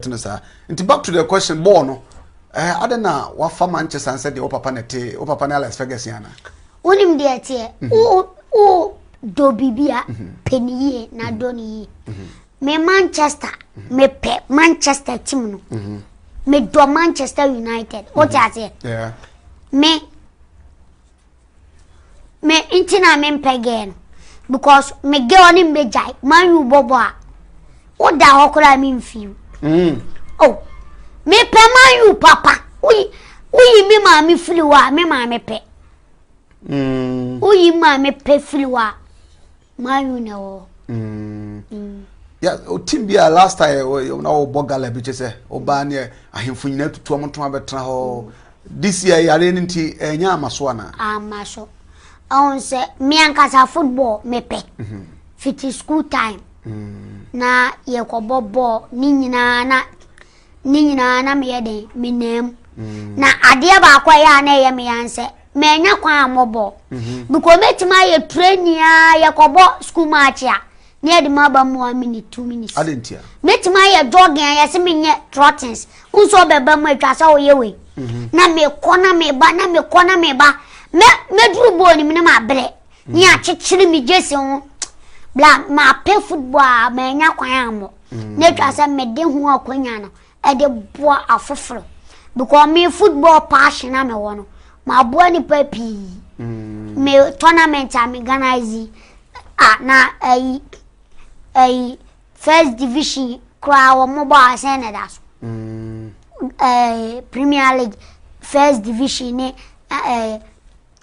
tene saa nti back to the question bɔɔl no ɛɛ eh, adɛn na wafa Manchester nsɛ deɛ wo papa na ɛte wo papa ne Alex Ferguson ana wonim deɛ ɛteɛ mhm. wo wo dɔ biribi a mhm. pɛ ne yie na mhm. dɔ ne yie me Manchester mepɛ Manchester team no medɔ Manchester United wote aseɛ me Me nti na me mpɛ girl no because me girl ne me jai man you bobo a wo da ho kora me mfiw mm. oh me pɛ man you papa uyi uyi me ma me fili wa me ma me pɛ mm. uyi ma me pɛ fili wa Mario na wɔ. Mm. Mm. Yeah, team bi a last time na wɔbɔ gala bi kyɛ sɛ ɔbaa ne ahemfo nyinaa tutu wɔn to abɛtena hɔ. Mm. This year yare no nti ɛnyɛ eh, ama so anaa? Ama so. Ɔn sɛ me ankasa football mepɛ. Mm-hmm. Fiti school time. Mm. Na yɛkɔbɔ bɔɔl ne nyinaa na ne nyinaa na meyɛ den menam. Mm. Na adeɛ baako a ɛyɛ a na ɛyɛ me yan sɛ manya kwan a mɔbɔ mhm. because mɛtumi ayɛ training a yɛkɔbɔ school match a na yɛde ma aba mu one minute two minutes mɛtumi ayɛ jogging a yɛse menyɛ trottings nso ɔbɛba mu atwa sɛ woyɛ wei mhm. na mekɔ na meba na mekɔ na meba mɛduru bɔɔl nim ne mabrɛ ne mhm. akyekyere me gyesi ho bla mapɛ football a manya kwan ammɔ na atwa sɛ mede ho akwanya no de boa afoforo because me football passion a mewɔ no maboa nipa pii mm. me tournament a me organize a na ayi ayi first division koraa wɔn bɔ asɛn na ɛda so mm. ɛɛ premier league first division ne ɛɛ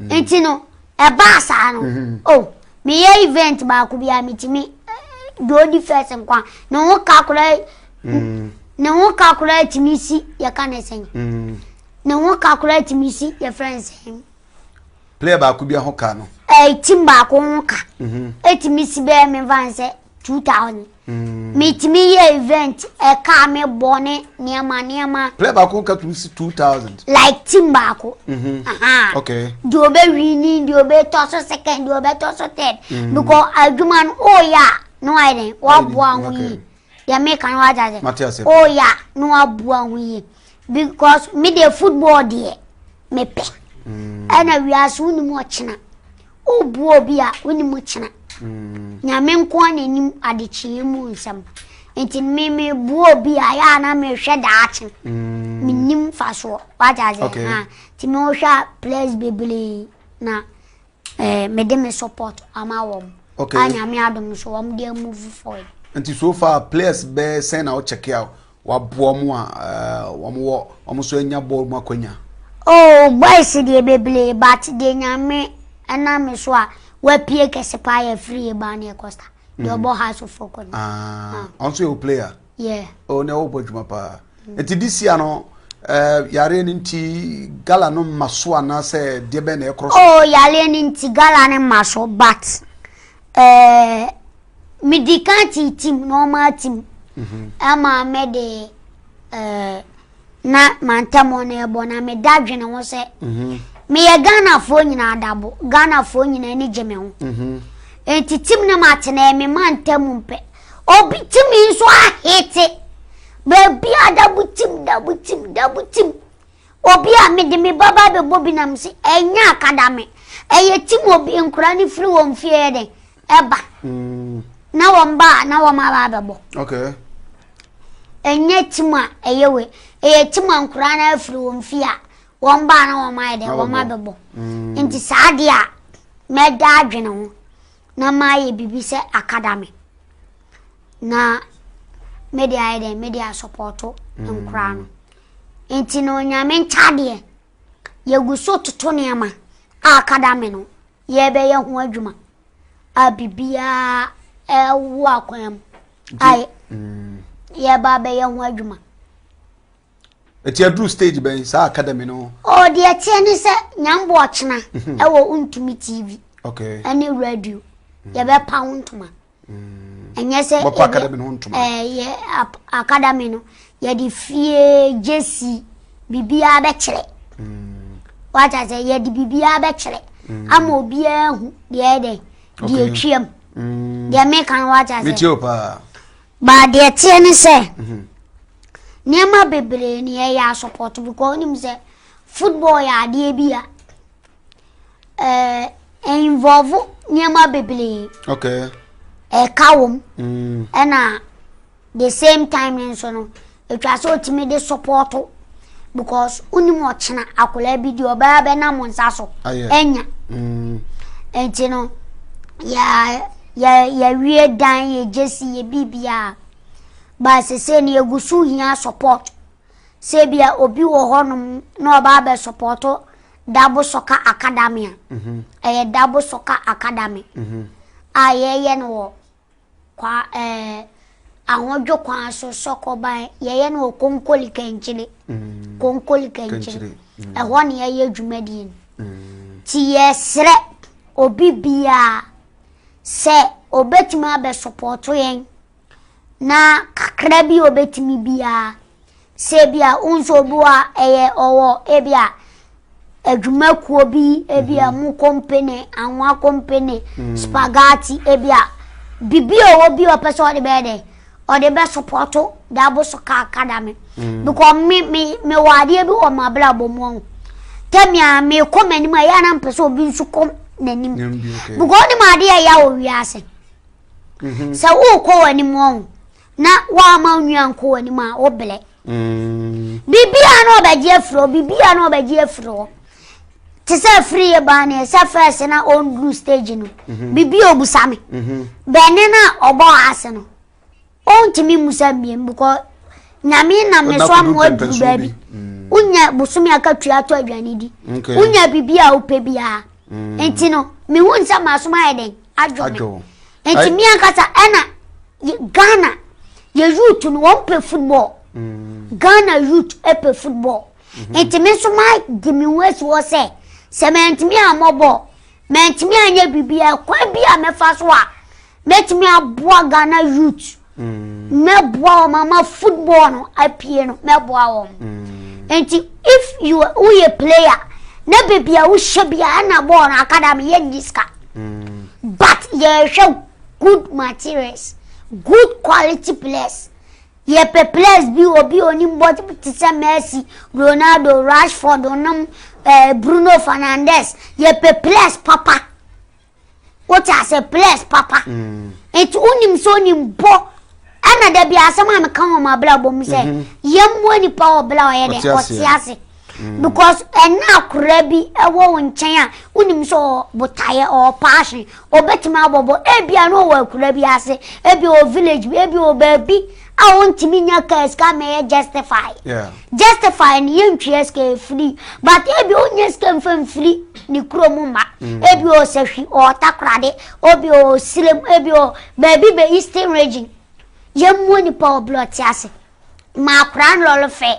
nti no ɛbaa saa no mm-hmm. o oh, meyɛ event baako bi a metumi deɛ eh, ɔdi first nkwa ne ho ka koraa mm. ne ho ka koraa tumi si yɛka ne sɛn mm. ne ho ka koraa tumi si yɛfrɛ ne sɛn player baako bi ho ka no ɛɛ eh, tim baako ho ka ɛtumi mm-hmm. si bɛyɛ memfa ne sɛ two thousand hmm. metumi yɛ event ɛka me bɔ ne nneɛma nneɛma. plɛ baako ka tumi si two thousand. like team baako. Mhm. okay. deɛ ɔbɛ wini deɛ ɔbɛ tɔ so second deɛ ɔbɛ tɔ so third. Hmm. because adwuma no ɔɔyɛ a na wayɛ dɛ waboa ho yi deɛ mi kan wa gya sɛ ɔɔyɛ a na waboa ho yi because mi deɛ football deɛ mi pɛ ɛna wiase wo ni mu ɔkyina Wobua obi a, wo ne mu kyena. Nyame nko ara na nim adekyeeɛ mu nsɛm. Nti no me mebua obi a, yɛ a na mehwɛ daakye. Menim mfasoɔ. Wate aseɛ? Okay. Ha. Nti mehwɛ a players bebree na eh, mede me support ama wɔn. Okay. A Nyame adom so wɔn de move forward. Nti so far players bɛɛ sɛn na wo check a Waboa wɔn a wɔn wɔ wɔn nso anya bɔɔl mu akwanya. Oh boys deɛ bebree but deɛ nyame ɛnam me so a wapie kɛse paa yɛ free Ebane Costa deɛ ɔbɔ mm. house of folk no. Ah, ah. ɔnso yɛ o player. Yeah. Oh na ɔbɔ adwuma paa. Mm. Eti this year no eh, yareɛ no nti gala no mma so anaasɛ deɛ bɛn na ɛkorɔ so? Oh yareɛ no nti gala no mma so but Ɛɛ, medi kan tiitim na wɔn atim. Mhm. Ɛma me de ɛɛ na mantam wɔn ɛbɔ na meda dwene ho sɛ. Mhm. Meyɛ Ghanafoɔ nyinaa adabo, Ghanafoɔ nyinaa ani gye me ho. Mhm. Eti tim ne ma tena ɛmi ma ntam mpɛ. Obi timi nso ahete. Baabi adabo tim, dabo tim, dabo tim. Obi a mede me ba ba bɛbɔ bi nam se ɛnyɛ akadame, ɛyɛ tim obi nkora ne firi wɔn fie yɛ dɛn ɛba mm. na wɔn ba a na wɔn aba abɛbɔ. Okay. Ɛnyɛ tim a ɛyɛ we ɛyɛ tim a nkora na afiri wɔn fie a wɔn ba a na wɔn ayɛ dɛn wɔn abɛbɔ. Mm. Nti saa adeɛ a mɛda adwene ho na mayɛ biribi sɛ akadame na mede ayɛ dɛn mede asɔpɔto mm. nkora no. Enti no Onyame ntaadeɛ, yɛgu so toto nneɛma a kadame no yɛrebɛyɛ ho adwuma a biribiara ɛwɔ akwan mu a mm. yɛreba abɛyɛ ho adwuma. Ɛti aduru stage bɛn saa academy no? Ɔ deɛ teɛ ne sɛ nyambo ɔkyena mhm. ɛwɔ ntumi TV ɛne radio yɛbɛpa wo ntoma. ɛnyɛ sɛ bɛkɔ academy no ho ntoma ɛɛ eh, yɛ academy no yɛde fie gyesi biribiara bɛkyerɛ mm. wata sɛ yɛde biribiara bɛkyerɛ mm. ama obiara hu deɛ ɛdɛ deɛ atwam mm. deɛ meka no wata sɛ baa deɛ teɛ ne sɛ mhm. nneɛma bebree ne yɛyɛ asopɔto because wonim sɛ football yɛ adeɛ bi a ɛɛ involve nneɛma bebree. okay. ɛka wɔm. Mm. ɛna the same time no nso no etwa sɛ otumi de support because wonim ɔkyena akwadaa bi di ɔbaa bɛnam nsa so ɛnya. Mm. nti no yɛ yɛ yɛwie dan yɛ gyesi yɛ biribiara baasi sɛ ne egu so hia support sɛ bia obi wɔ hɔnom na ɔbaa bɛ support Dabo Soccer Academy a ɛyɛ Dabo Soccer Academy a yɛyɛ no wɔ kwa ɛɛ ahodwo kwan so sɔkɔban yɛyɛ no wɔ konkoli kankyire konkoli kankyire ɛhɔ ne yɛyɛ dwumadie no ti yɛsrɛ obi biara sɛ obetumi abɛsopɔto yɛn na kakra bi obetumi biara Sɛ ebia wo nso obi wɔ a ɛyɛ ɔwɔ ebia adwumakuo bi ebia mhm. mu kompene anwa kompene mm. spaghetti ebia bibi a ɔwɔ bi ɔpɛ sɛ ɔde bɛyɛ dɛ ɔde bɛ sopɔto dabo so kaaka da me mm. because me me me wɔ adeɛ bi wɔ mo abrabɔ mu ɔho tɛmi a me kɔ m'anim a yɛ anam pɛ sɛ obi nso kɔ n'anim because ɔnim adeɛ a ɛyɛ wɔ wiase mhm. sɛ wokɔ w'anim ɔho. na woama wo nua nkɔ w'anim a wobrɛ mm. biribia na ɔbɛgye afiri hɔ biribia na ɔbɛgye afiri hɔ te sɛ afiri yɛ baa ne ɛsɛ fɛs na ɔnduru stage no mhm. biribi ɔbusa me mhm. bɛne no a ɔbɔ ase no ɔntumi mmusa mbiem because nyame nam ne so ama waduru baabi mm. wonya bosome akatua atɔ aduane di wonya biribi a wopɛ biara mm. nti no mehu nsɛ masom ayɛ dɛn adwo nti mi ankasa ɛna ghana yɛ youth no wɔn pɛ football mm. ghana youth ɛpɛ football mhm. nti mi nso ma di mi ho esi hɔ sɛ sɛ mɛntumi amɔ bɔɔl mɛntumi anyɛ biribi ɛkwan bi a mɛfa so a mɛtumi aboa ghana youth Mm. mɛboa wɔn ama football no apue no mɛboa wɔn mm. nti if you woyɛ player na beebi a wohyɛ bi a ɛna bɔɔl no akadami yɛ nni sika mm. but yɛhwɛ good materials good quality players yɛpɛ players bi obi onim bɔ te sɛ messi ronaldo rashford onom eh, bruno fernandes yɛpɛ players papa. wote ase bless papa mm. nti wonim sɛ onim bɔ ɛna da bi asɛm a meka wɔ m'abrabɔ mu sɛ mhm. yɛmmoa nipa wɔ berɛ a ɔyɛ dɛ ɔte ase mm. because ɛna akora bi ɛwɔ wo nkyɛn a wonim sɛ ɔbotaeɛ ɔɔpaahye ɔbɛtumi abɔbɔ ebia no ɔwɔ akora bi ase ebia ɔ village bi ebia ɔ baabi a wontumi nya kaa sika ma ɛyɛ justify justify no yɛntwea sika ɛfiri but ebi ɔnyɛ sika mfa mfiri ne kuro mu mma mm. ebi ɔsahwi ɔtakorade obi ɔsirem ebi ɔ baabi bɛ eastern region yɛmmuo nipa ɔblɔte ase ma akora nlɔlefɛ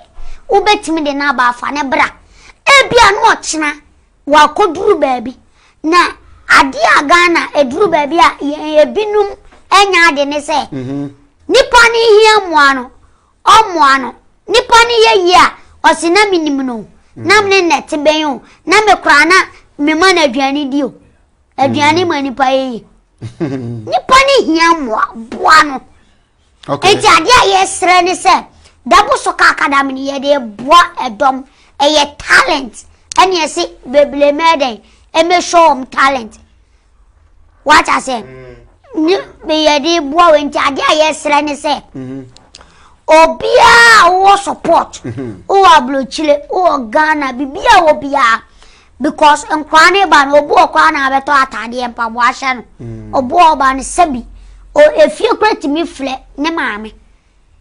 wobɛtumi de no aba afa ne bra ebi a no ɔkyena Wɔakɔduru baabi, na adeɛ a Ghana ɛduru baabi a yɛn ebinom ɛnyɛ ade ne sɛ, mhm. nipa no hia mmoa no, ɔmmoa no, nipa no yɛ yie a, ɔse na menim no, mhm. na mene nnɛ te bɛn o, na me koraa na mema no aduane di o, aduane mhm. ma nipa yɛ yie. nipa no hia mmoa, boa no. Okay. Eti adeɛ a yɛsrɛ ne sɛ dabo so ka akadam no yɛde boa ɛdɔm ɛyɛ talent ɛne ɛse bebree mɛɛdɛn ɛmɛ show wɔn talent wate aseɛ ne yɛde boa wɔ nti adeɛ a yɛsrɛ ne sɛ obiara wɔ support wɔ aburokyire wɔ ghana biribiara wɔ biara because nkwaa ne ba no obu ɔkɔ ana abɛtɔ ataadeɛ mpaboa ahyɛ no mm. obu ɔba no sɛbi o efie kura tumi filɛ ne maame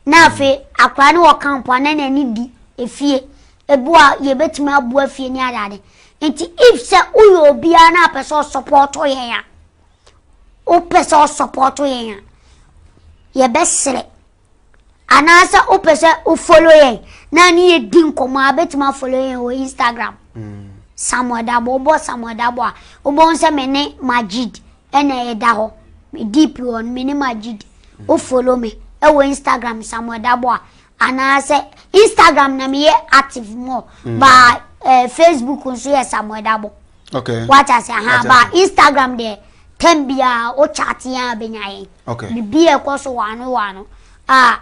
na mm. afei akora ne wɔ kampo ana na ani di efie ebu a yɛbɛtumi abu afie ne adade nti if sɛ woyɛ obiara na apɛ sɛ ɔsɔpɔtɔ yɛn a wopɛ sɛ ɔsɔpɔtɔ yɛn a yɛbɛsrɛ anaasɛ wopɛ sɛ wo follow yɛn na ne yɛ di nkɔmɔ a bɛtumi afollow yɛn wɔ instagram mm. samuel dabo wobɔ samuel dabo a wobɛhu sɛ me ne majid ɛna ɛda hɔ me deep wɔ no me ne majid mm. wo follow me ɛwɔ instagram samuel dabo a anaasɛ instagram na meyɛ active more mm. ba eh, facebook nso yɛ samuel dabo okay. wata sɛ ha ba instagram deɛ tɛm biara wo chat yɛn a bɛnya yɛn Okay. The beer ɛkɔ so wano wano a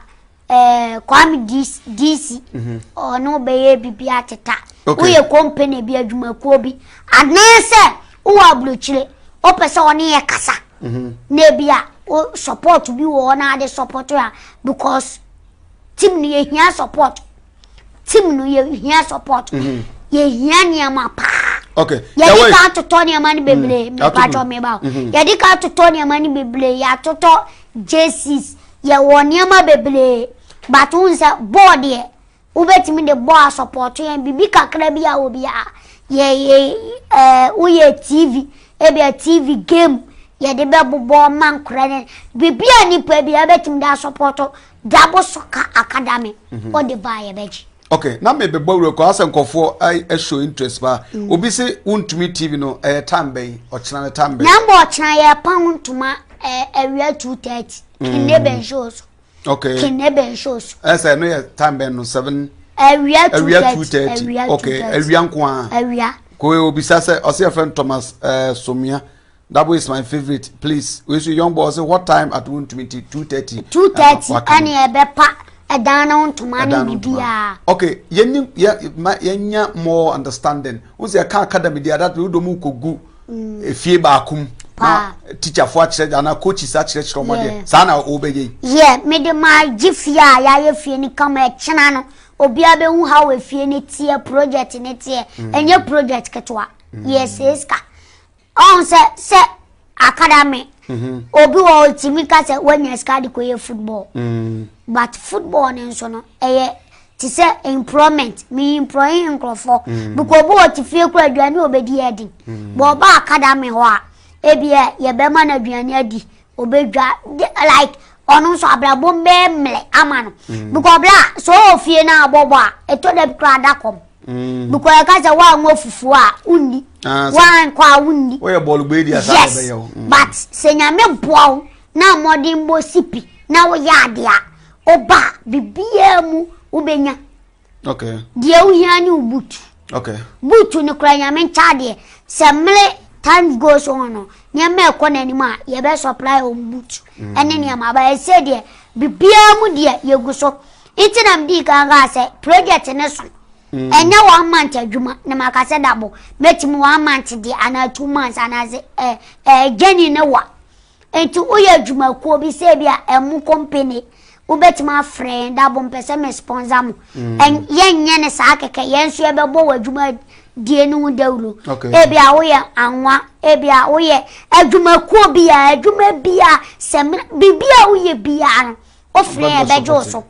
ɛɛ Kwame DC mhm. ɔne ɔbɛyɛ bibi ateta. Okay. Woyɛ company bi adwumakuo bi anaasɛ wowɔ aburokyire wopɛ sɛ ɔne yɛ kasa. Mhm. Na ebi a wo support bi wɔ hɔ na ade support a because team no yɛhia support. team no yɛ hia support mhm. yɛ hia nneɛma paa okay yɛde ka atotɔ nneɛma no bebree mm. mepatwɔ me ba mhm. yɛde ka atotɔ nneɛma no bebree yɛatotɔ jerseys yɛwɔ nneɛma bebree but n sɛ bɔɔl deɛ wobɛtumi de bɔɔl asɔpɔto yɛn biribi kakra bi a obi a yɛyɛ ɛɛ woyɛ tv ebi a tv game yɛde bɛbobɔ ma nkora no biribi a nipa bi a bɛtumi de asɔpɔto Dabo Soccer Academy ɔde baa yɛbɛgye. ok na mebɛbɔ awura kɔ asɛ nkɔfoɔ ɛhyɛ interest paa mm. obi se wontumi tv no ɛyɛ eh, time bɛn ɔkyena no time bɛn na mbɔ ɔkyena yɛpa ho ntoma eh, awia 230 mm. kenne bɛnhyɛ o so ok kenne bɛnhyɛ o so ɛsɛ eh, no yɛ time bɛn no 7 awia 230 ok awia nko a awia kò obisa sɛ ɔsɛ yɛfrɛ no thomas somia Dabo is my favourite please wei so young boy ɔsɛ what time at wontumi nti two thirty. two thirty ɛne ɛbɛpa ɛdan no ntoma ne biribiara. okay yɛni yɛ ma yɛnya more understanding n sɛ ɛka academy deɛ adat wodɔ mu kɔgu mm. efie baako mu na teacherfoɔ akyerɛ anaa coaches akyerɛkyerɛ ɔmo adeɛ saa na wɔbɛyɛ yi. yɛ mede maa gye fie a yɛayɛ fie no kama ɛkyena no obiara bɛhu ha wɔ efie no teɛ project no teɛ ɛnyɛ mm. project ketewa mm. yɛ sɛ sika. Ɔn sɛ sɛ academy mm-hmm. obi wɔ ɔtumi ka sɛ wanya sika de kɔyɛ football mm. but football no nso no ɛyɛ te sɛ employment meyi employe nkurɔfoɔ mm. because obi wɔ te fie kora aduane ɔbɛdi yɛ den mm. bɔ ɔba academy hɔ a ebia yɛbɛma no aduane adi ɔbɛdwa like ɔno nso abrabɔ bɛɛ mmerɛ ama no because ɔbrɛ a sɛ ɔwɔ fie no a bɔbɔ a ɛtɔ da bi kora ada kɔm Mm. Because I can't wa ngo fufu a unni. Ah, wa nkwa a unni. Wo ye ball gbe dia sa be yo. Mm. But se nyame boa wo na mode mbo sipi na wo ya de a oba bibia mu wo benya. Okay. Die wo hia ni ubutu. Okay. Butu ni kura nyame ncha de se mle time goes on no nneɛma ɛkɔ n'anim a yɛbɛ supply wɔn butu ɛne nneɛma aba ɛsɛ deɛ biribiara mu deɛ yɛgu so Ntsi na midii kan kaa sɛ, Project no so nnyɛ one month edwuma na maka sɛ dabo, metsim one month deɛ anaa two months anaadze eh eh journey no wa. Ntsi woyɛ edwumakuo bi sɛ bi a emo company wobɛtumi afrɛ yɛn dabo mpɛ sɛ me sponsor mo. Ɛn yɛnnyɛ no saa kɛkɛ, yɛn nso yɛbɛbɔ w'edwuma die no ho dawuro. Ebi a woyɛ anwa, ebi a woyɛ edwumakuo bi a, edwuma bi a sɛ me biribi a woyɛ biara no. wofrɛ yɛ bɛgye wo so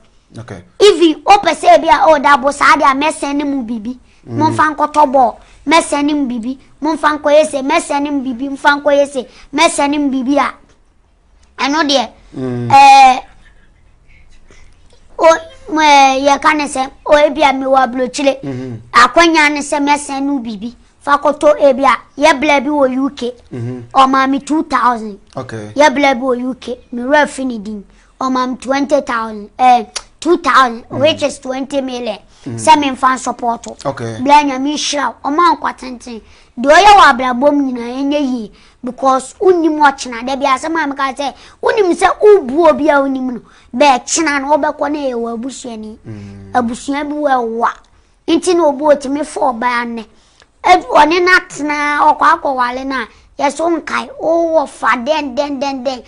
even wopɛ sɛ ebi a oh dabo saa deɛ a mɛsɛn ne mu biribi mm. momfa nkɔtɔ bɔɔl mɛsɛn ne mu biribi momfa nkɔyɛ se mɛsɛn ne mu biribi mfa nkɔyɛ se mɛsɛn ne mu biribi a ɛno deɛ mm. ɛɛ o ɛɛ yɛka ne sɛ o ebi a mewɔ aburokyire mm-hmm. akwanya ne sɛ mɛsɛn ne mu biribi Fa koto ebi a yɛ bla bi wɔ UK. Ɔmaa me two thousand. Yɛ bla bi wɔ UK. Me wura fi ne din. Ɔmaa me twenty thousand. Ɛɛ eh, two thousand mm. which is twenty million. Mm. Sɛ me nfa nsɔpɔtɔ. Bla nyame nhyira o. Ɔmaa nkwa tenten. Deɛ ɔyɛ wɔ abrabɔ mu nyinaa ɛnyɛ yie because wonim ɔkyena da bi asɛm a meka sɛ wonim sɛ wobu obi a wonim no bɛɛkyena no wobɛkɔ no ɛyɛ wɔ abusuani mm. abusua bi wɔ ɛwa Nti na obi otumi fa ɔbaa nnɛ, ebi ɔne no atena a, ɔkɔ akɔware no a, yɛse wo nkae, wowɔ fa dɛndɛndɛndɛn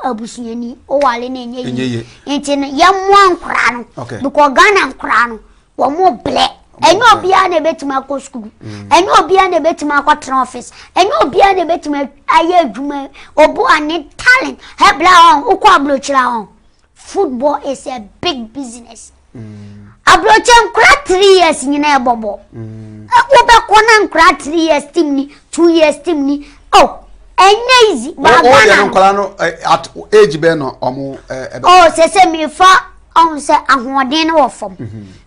abusuani, woware no ɛnyɛ yie. Nti no yɛmmoa nkoraa no, because Ghana nkoraa no, wɔmo brɛ. Ɛnyɛ obiara na ebetumi akɔ sukuu. Mm. Ɛnyɛ obiara na ebetumi akɔtena office. Ɛnyɛ obiara na ebetumi ayɛ adwuma. Obu a ne talent, ɛbla wɔn, wokɔ aburokyiri wɔn. football is a big business aburokyɛ nkora three years nyina ɛbɔ bɔ wobɛkɔ na nkora three years team ni two years team ni oh ɛnyɛ easy baagba na nkora no at age bɛn na ɔmo ɛbɛ oh sɛ sɛ mefa ɔmo sɛ ahoɔden no wɔ fam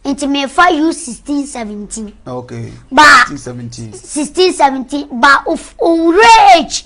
nti mefa u sixteen seventeen okay ba sixteen seventeen ba owurɛ age.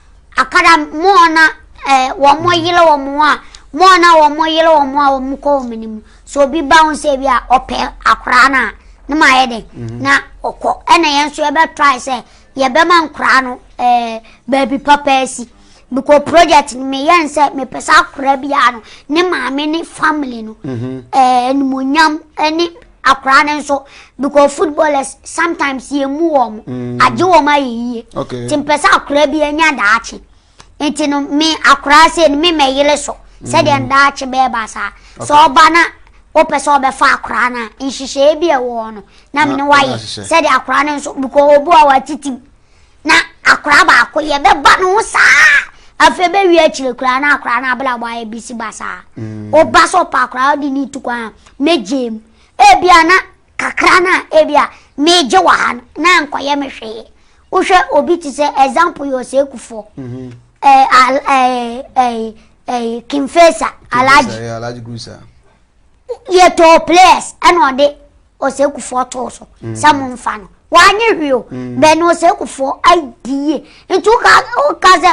Akada mmoa na wɔyere wɔn a mmoa na wɔyere wɔn a wɔkɔ wɔn anim sɛ obi ba ho sɛ bi a ɔpɛ akora no a ne ma yɛ den mhm. na ɔkɔ ɛna yɛn nso yɛbɛtrae sɛ yɛbɛma nkora no ɛɛ baabi papa asi bikɔ project no meyɛ nsɛ mepɛ sɛ akora biara no ne maame ne family no mhm. ɛɛ animonyam ɛne. akwaraa no nso because footballers sometimes yɛ mu wɔn mm. agye wɔn ayɛ yie nti mpɛ sɛ akwaraa bi anya daakye nti no me akwaraa sɛ no me mɛyere so sɛdeɛ mm. daakye bɛɛba saa sɛ ɔba na wopɛ sɛ ɔbɛfa akwaraa no a nhyehyɛeɛ bi ɛwɔ no na mene wayɛ sɛdeɛ akwaraa no nso because obu a watetim na akwadaa baako yɛ bɛba ne ho saa afei bɛwie akyire koraa na akwadaa no abrabɔ ayɛ bisi basaa woba mm. sɛ ɔpa akwadaa wode ne tu kwan a mɛgye mu ebia na kakra no a ebia megye wɔ ha no na nkɔyɛ me hwee wohwɛ obi te sɛ example yɛ ɔsɛ kufoɔ mhm. kimfesa alaji deɛ tɔɔ players ɛna ɔde ɔsɛkufoɔ too so mm. sɛ mo nfa no wanyɛ hwee o mm. bɛn na ɔsɛkufoɔ adi yie nti woka woka sɛ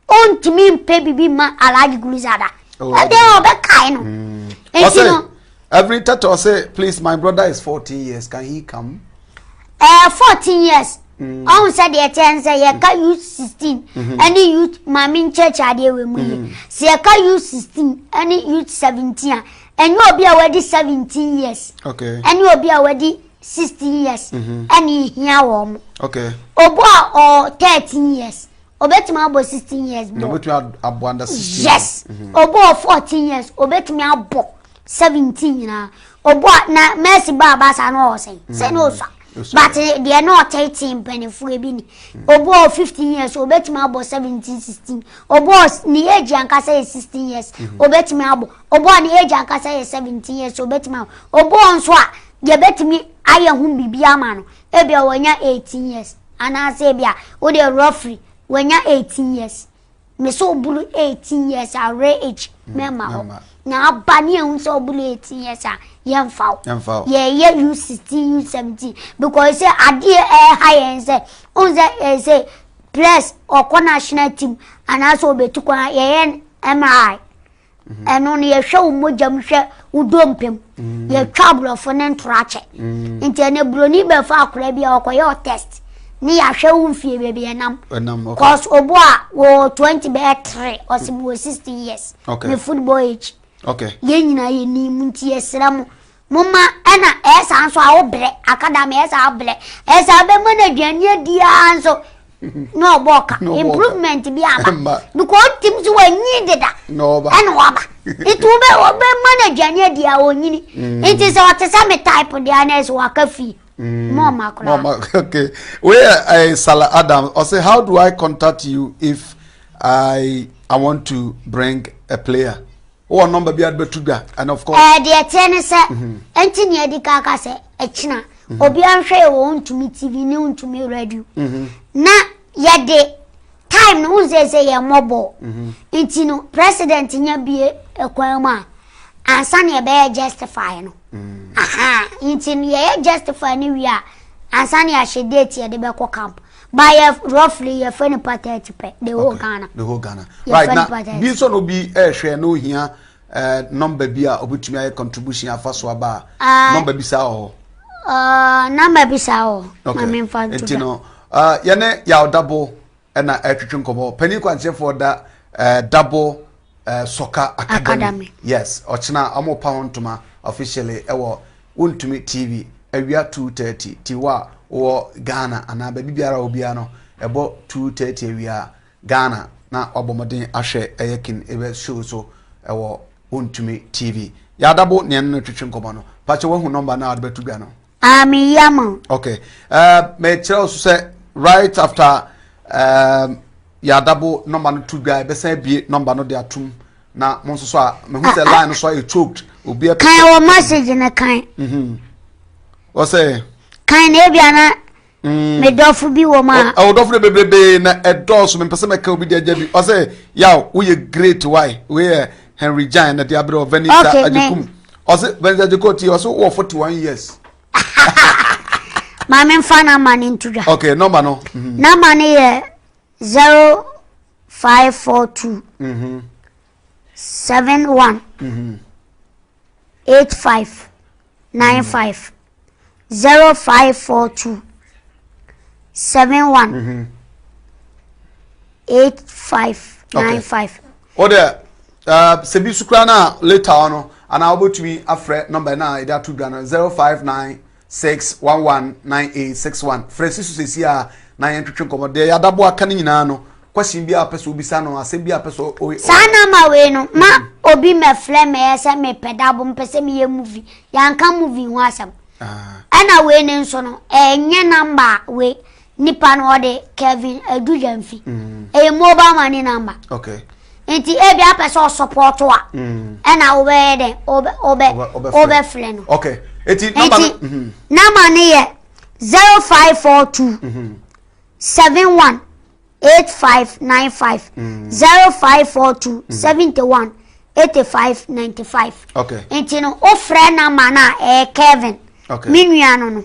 ɔntumi mpɛ bibi ma alagye gulizada oh, ɛdeɛ ɔbɛkae no mm. nti no every tata say please my brother is 14 years can he come Ɛɛ fourteen years. Mm. Ɔhun sɛ deɛ ɛkyɛ n sɛ yɛka mm. youth sixteen mm-hmm. ɛne youth maame nkyɛkyɛ adeɛ wɔ mu yi. Mm-hmm. Sɛ yɛka youth sixteen ɛne youth seventeen a ɛnyɛ obi a wadi seventeen years. Okay. Ɛne obi a wadi sixteen years. Mm-hmm. Ɛne ehia wɔn. Okay. Obo a ɔɔ thirteen years obetumi abɔ sixteen years bɔ. Na obetumi abɔ under sixteen. Yes. Obo a ɔɔ fourteen years obetumi abɔ. 17 nyinaa ɔbɔ a na mercy bɔ aba saa na ɔwɔ sɛn sɛ na ɔsua but deɛ na ɔtete mpanimfoɔ bi ni ɔbɔ 15 years ɔbɛtumi abɔ 17 16 ɔbɔ ne age ankasa yɛ 16 years ɔbɛtumi abɔ ɔbɔ ne age ankasa yɛ 17 years ɔbɛtumi abɔ ɔbɔ nso a deɛ bɛtumi ayɛ ho biribi ama no ebia wɔnya 18 years anaasɛ ebia wode roughly wɔnya 18 years Ne sɛ ɔbunu eighteen years a ɔwerɛ age hmm, mɛma hɔ na aba ne ɛhu sɛ ɔbunu eighteen years a yɛmfa wo yɛyɛ u sixteen u seventeen because sɛ adeɛ ɛha yɛn sɛ ɔhu sɛ ɛyɛ sɛ press ɔkɔ national team anaasɛ ɔbɛtu kwan yɛyɛ mri ɛno no yɛhwɛ wo mogya mu hwɛ wo dompe mu mm. yɛtwa aborɔfo ne ntoro akyɛ mm. nti ɛnɛ buroni bɛfa akora bi a ɔkɔyɛ ɔ test ne yɛahwɛ wo mfie baabi ɛnam cause obo a wɔ 20 bɛyɛ tre ɔse mewɔ 16 years me football age yɛn nyinaa yɛnim nti yɛsrɛ mo Mo mma na ɛyɛ saa nso a wobrɛ aka da ma ɛyɛ saa wobrɛ ɛyɛ saa bɛma no aduane adi ara nso na ɔbɔ ɔka improvement bi aba because ɔtim so wanyi deda ɛna waba nti wobɛ wɔbɛma no aduane adi a ɔnyini mm. nti sɛ ɔte sɛ me type deɛ ana ɛsɛ waka fii mm. mɔma koraa okay wei uh, sala adam ɔsɛ how do i contact you if i i want to bring a player wowɔ nɔmba bi a bɛto dwa and of course. ɛɛ eh, deɛ teɛ ne sɛ mhm. ɛnti nea adi ka ka sɛ ɛkyina mhm. obi anhwɛ yɛ wɔ ntumi tv ne ntumi radio mhm. na yɛde time no wohu sɛ sɛ yɛ mmɔbɔ nti no president nya bie ɛkwan mu a ansa na yɛbɛyɛ justify no aha nti no yɛyɛ justify no wie a ansa na yɛahyɛ date yɛde bɛkɔ camp Ba yɛ roughly yɛ fɛ no pa thirty pɛ the whole Ghana. The whole Ghana. Right na bi nso na obi ɛhwɛ eh, na ohia ɛɛ eh, nɔmba bi a obetumi ayɛ contribution afa so aba a ah. nɔmba bi saa wɔ hɔ. Ah, nɔmba bi saa wɔ hɔ. Maame nfa nto da. Nti no ah, yɛne yaw dabo ɛna ɛtwitwi nkɔmɔ panyin kwankyerɛfoɔ da ɛɛ dabo. Uh, Soccer Academy. Academy. Yes, ɔkyena ɔmo repa ho ntoma officially ɛwɔ Wontumi TV awia 2:30 ti wɔ a wɔ Ghana anaa baabi biara wɔ biara no ɛbɔ 2:30 awia Ghana na wabɔ mmɔden ahwɛ ɛyɛ kin ɛbɛ show so ɛwɔ Wontumi TV. Yɛadabo nea no twetwe nkɔmɔ no. Pakyɛ wahu nɔmba no a wɔde bɛto dwa no. Ah, me ya ma. Okay. Uh, me kyerɛ so sɛ right after um, yɛadabo nɔmba no to dwa ɛbɛsan abie nɔmba no de atom na mo nso so a mehu sɛ ah, ah. line no so a ɛchoked obi apɛ kan wɔ message no kan ɔsɛ kan na ebia na Mm. Me dɔfo bi wɔ mu a. Ɔ dɔfo de bebrebe na ɛdɔɔso mepɛ sɛ mɛka obi de agya bi ɔsɛ yaw woyɛ great why wei yɛ Henry Jan na de abrɛ wɔ Venita okay, Ajekum ɔsɛ Venita Ajekum ti ɔsɛ wɔ forty one years. maame nfa na ama ne nto dwa. okay nɔmba no. Mhm. na ama ne yɛ zero five four two. Mhm. seven one. Mhm. eight five nine five zero five four two seven one mm-hmm. eight five nine five. o de uh, sɛ bi sukura na later ɔno anaa wobɛtumi afrɛ nɔmba no a yɛde ato dwa no zero five nine 6119861 Frɛ Sisu seesei ara na yɛntwetwe nkɔmmɔ. Deɛ Yɛadaboa aka no nyinaa no, question biara a wopɛ sɛ wobisa no, asɛm biara a wopɛ sɛ ɔyɛ no. Saa number wei no, ma obi mmɛfrɛ me ɛyɛ sɛ mepɛ dabo, mepɛ sɛ meyɛ movie. Yɛanka movie ho asɛm. Ɛna wei no nso no, ɛnyɛ number a wei, Nipa no ɔde Kevin Adudamfi. Ɛyɛ mobile money number. Okay. Nti ebi apɛ sɛ ɔsɔpɔtɔ a. Ɛna wobɛyɛ dɛ wobɛ wobɛfrɛ no. Okay. Eti nɔmba no. Nti nɔmba no yɛ zero five four two seven one eight five nine five zero five four two seventy one eighty five ninety five. Okay. Nti no wofrɛ nɔmba no a ɛyɛ Kevin. Okay. Me nua no no.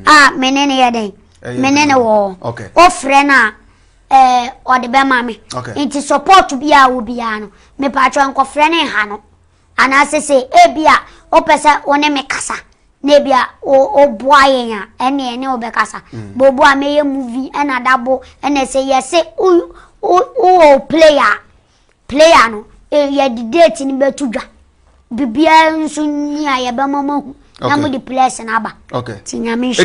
A me ne no yɛ dɛn. me ne no wɔ hɔ wofrɛ no a eh, ɔde bɛma me nti support bi a wo biara no mepaatwa nkɔfrɛ ne nha no anaasɛ sɛ ebi a wopɛ sɛ wo ne me kasa na ebi a woboa yɛn a ɛne ɛne wobɛkasa mm. bobo a mɛyɛ movie ɛna dabo ɛna sɛ yɛse wowɔ player player no eh, yɛde date no bɛto dwa biribiara nso nyi a yɛbɛma mahu na mode plɛs no aba nti nyame